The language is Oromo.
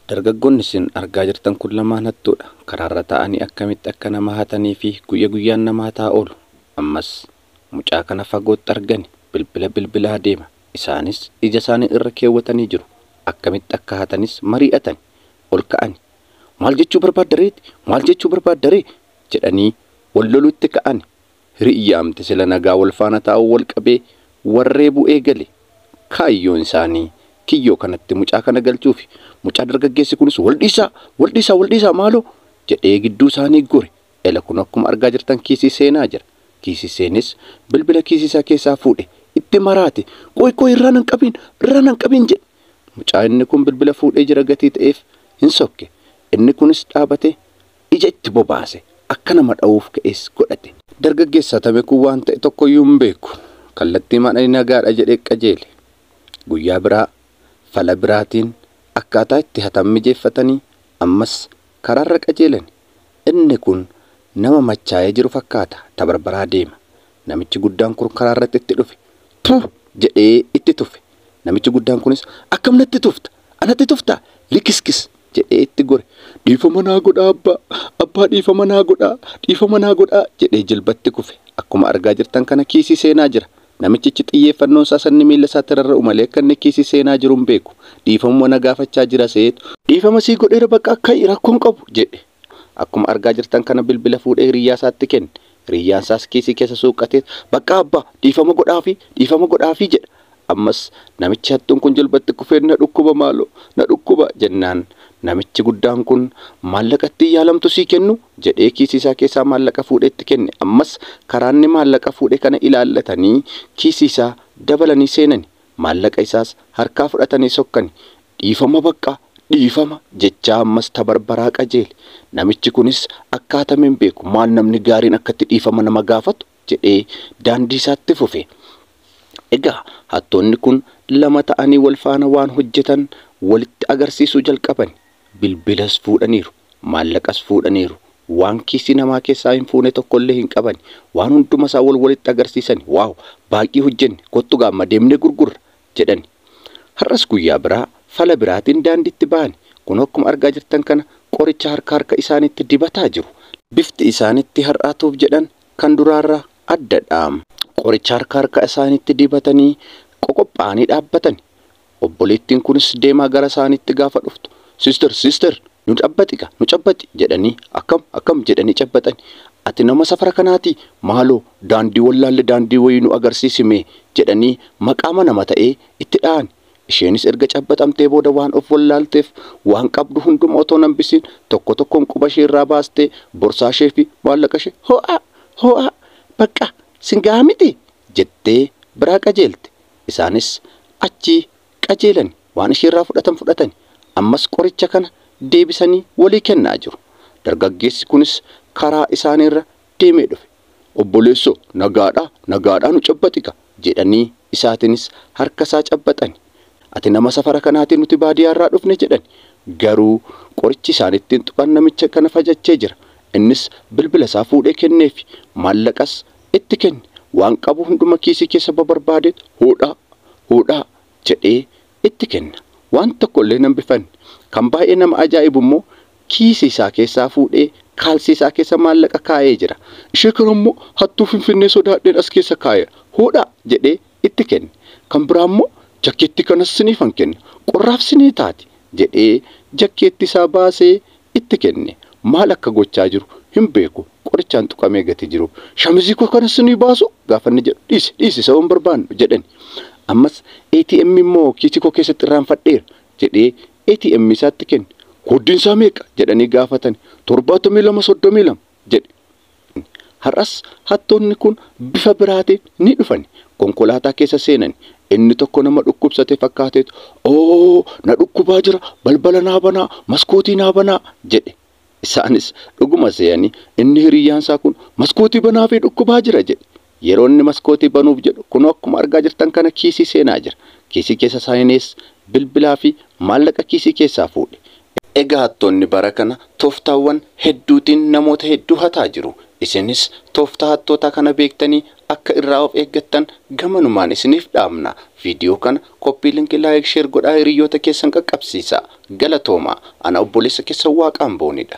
Dargaggoonni isin argaa jirtan kun lamaan hattuudha. Karaarra taa'anii akkamitti akka nama hataniifi guyya guyyaan nama hataa oolu. Ammas mucaa kana fagootti argani bilbila bilbilaa deema. Isaanis ijasaanii irra keewwatanii jiru. Akkamitti akka hatanis marii'atani. Ol ka'ani. Maal jechuu barbaadda reeti? Maal jechuu barbaadda ree? jedhanii wal loluutti ka'ani. Hiriyyaamti sila nagaa wal faana taa'uu wal qabee wal reebuu eegale. Kaayyoon isaanii kiyyoo kanatti mucaa kana galchuufi. Mucaa dargaggeessi kunis wal dhiisaa! Wal dhiisaa! Wal dhiisaa maaloo! jedhee gidduu isaanii gore. Ela kunoo akkuma argaa jirtan kiisii seenaa jira. Kiisii seenes bilbila kiisii isaa keessaa fuudhe itti maraate. Qoy qoy irraa nan qabiin! Irraa nan qabiin! jedhe. Mucaa inni kun bilbila fuudhee jira gatii ta'eef hin sokke. Inni kunis dhaabatee Ija itti bobaase. Akka nama dhawuuf ka'es godhate. Dargaggeessa Tame kun waan ta'e tokkoyyuu hin beeku. Kallattiimaan ani nagaadha jedhee qajeele. Guyyaa biraa fala biraatiin akkaataa itti hatan mijeeffatanii ammas karaarra qajeelani. Inni kun nama machaayee jiru fakkaata. Tabarbaraa deema. Namichi guddaan kun karaa irratti itti dhufe. Tu! jedhee itti tufe. Namichi guddaan kunis, Akkam natti tufta? Anatti tuftaa? Likiskis! jedhee itti gore. Dhiifama naa godhaa abbaa! Abbaa dhiifama naa godhaa! Dhiifama naa godhaa! jedhee jilbatti kufe. Akkuma argaa jirtan kana kiisii seenaa jira. Namichichi xiyyeeffannoon isaa isa inni miilla isaatti rarra'u malee akka inni kiisii seenaa jiru hin beeku. Dhiifamuma na gaafachaa jira seetu. Dhiifama sii godheera baqaa ka'i rakkoo hin qabu! jedhe. Akkuma argaa jirtan kana bilbila fuudhee hiriyyaa isaatti kenne. Hiriyyaan isaas kiisii keessa suuqqatee, Baqqaa abbaa, dhiifama godhaafii, dhiifama godhaafii jedha. Ammas namichi hattuun kun jilba itti kufee, Na dhukkuba maaloo, na dhukkuba jennaan namichi guddaan kun, Maallaqa ittiin yaalamtu sii kennu? jedhee kiisii isaa keessaa maallaqa fuudhee itti kenne. Ammas karaa inni maallaqa fuudhe kana ilaallatanii kiisii isaa dabalanii seenani. Maallaqa isaas harkaa fudhatanii sokkani. Dhiifama baqqa! Dhiifama! jechaa ammas tabarbaraa qajeele. Namichi kunis akkaatame hin beeku, maal namni gaariin akkatti dhiifama nama gaafatu? jedhee daandii isaatti fufe. Egaa hattoonni kun lama ta'anii wal faana waan hojjetan walitti agarsiisuu jalqabani. Bilbilas fuudhaniiru. Maallaqas fuudhaniiru. Waan kiisii namaa keessaa hin fuune tokko illee hin qabani. Waan hunduma isaa wal walitti agarsiisani, Waaw! Baay'ee hojjenne. Kottu gaa amma deemnee gurgurra! jedhani. Har'as guyyaa biraa fala biraatiin daandiitti ba'ani. Kunoo akkuma argaa jirtan kana qoricha harka harka isaaniitti dibataa jiru. Bifti isaanitti har'aa tuuf jedhan kan duraarraa addadha. Qoricha harka harka isaaniitti dibatanii qoqopha'anii dhaabbatani. Obboleettiin kunis deemaa gara isaaniitti gaafa dhuftu, Sister, sister, nu cabbaxi gaa, nu cabbaxi! jedhanii, akkam, akkam! jedhanii cabbaxani. Ati nama safara kanaatii? Maaloo, daandii wallaalle daandii wayii nu agarsiisi mee! jedhanii maqaama nama ta'ee itti dha'ani. Isheenis erga cabbaxamtee booda waan of wallaalteef, waan qabdu hunduma otoo hin hambisiin tokko tokkoon quba ishee irraa baastee borsaa ishee fi maallaqa ishee hoo'aa! hoo'aa! baqqaa! sin gaha mitii? jettee biraa qajeelte. Isaanis achii qajeelani waan isheerraa fudhatan fudhatani ammas qoricha kana deebisanii walii kennaa jiru. Dargaggeessi kunis karaa isaaniirra deemee dhufe. Obboleessoo nagaadhaa nagaadhaa nu cabbaxiga jedhanii isaatinis harkasaa cabbaxani. Ati nama safara kanaatii nuti baadiyaarraa dhufne jedhani. Garuu qorichi isaan ittiin tuqan namicha kana fajachee jira. Innis bilbilasaa fuudhee kenneefi. Maallaqas Itti kenni. Waan qabu hunduma kiisii keessa babarbaade huudhaa, huudhaa! jedhee itti kenna. Waan tokko illee hin hambifanne. Kan baay'ee nama ajaa'ibu immoo kiisii isaa keessaa fuudhee kaalsii isaa keessa maallaqa kaa'ee jira. Ishee kana immoo hattuu Finfinnee sodaadheen as keessa kaa'eera. Huudhaa! jedhee itti kenne. Kan biraa immoo jakkeettii kanas siniifan kenna, qorraaf sinii taati jedhee jakkeettii isaa baasee itti kenne. Maal akka gochaa jiru hin beeku, qorichaan tuqamee gatii jiruuf. Shamizii koo kanas sinii baasuu? gaafa inni jedhu, dhiisi, dhiisi isa waan barbaannu jedhani. Ammas ATM immoo kiisii koo keessatti irraanfadheera jedhee ATM isaa itti kenne. Kooddiin isaa meeqa? jedhanii gaafatani. 72 32 jedhe. Har'as hattoonni kun bifa biraatiin ni dhufani. Konkolaataa keessa seenani. Inni tokko nama dhukkubsate fakkaateetu Oo! Na dhukkubaa jira, balbala naa banaa, maskootii naa banaa! jedhe. Isaanis dhuguma see'anii inni hiriyyaan isaa kun maskootii banaafii dhukkubaa jira jedhe. Yeroo inni maskootii banuuf jedhu kunoo akkuma argaa jirtan kana kiisii seenaa jira. Kiisii keessa saayinees, bilbilaa fi maallaqa kiisii keessaa fuudhe. Egaa hattoonni bara kana tooftaawwan hedduutiin namoota hedduu hataa jiru. Isinis tooftaa hattootaa kana beektanii akka irraa of eeggattan gamanumaan isiniif dhaamna. Viidiyoo kana copy link like share godhaa hiriyyoota keessan qaqqabsiisaa. Galatoomaa! Ana obboleessa keessan Waaqaanboonidha.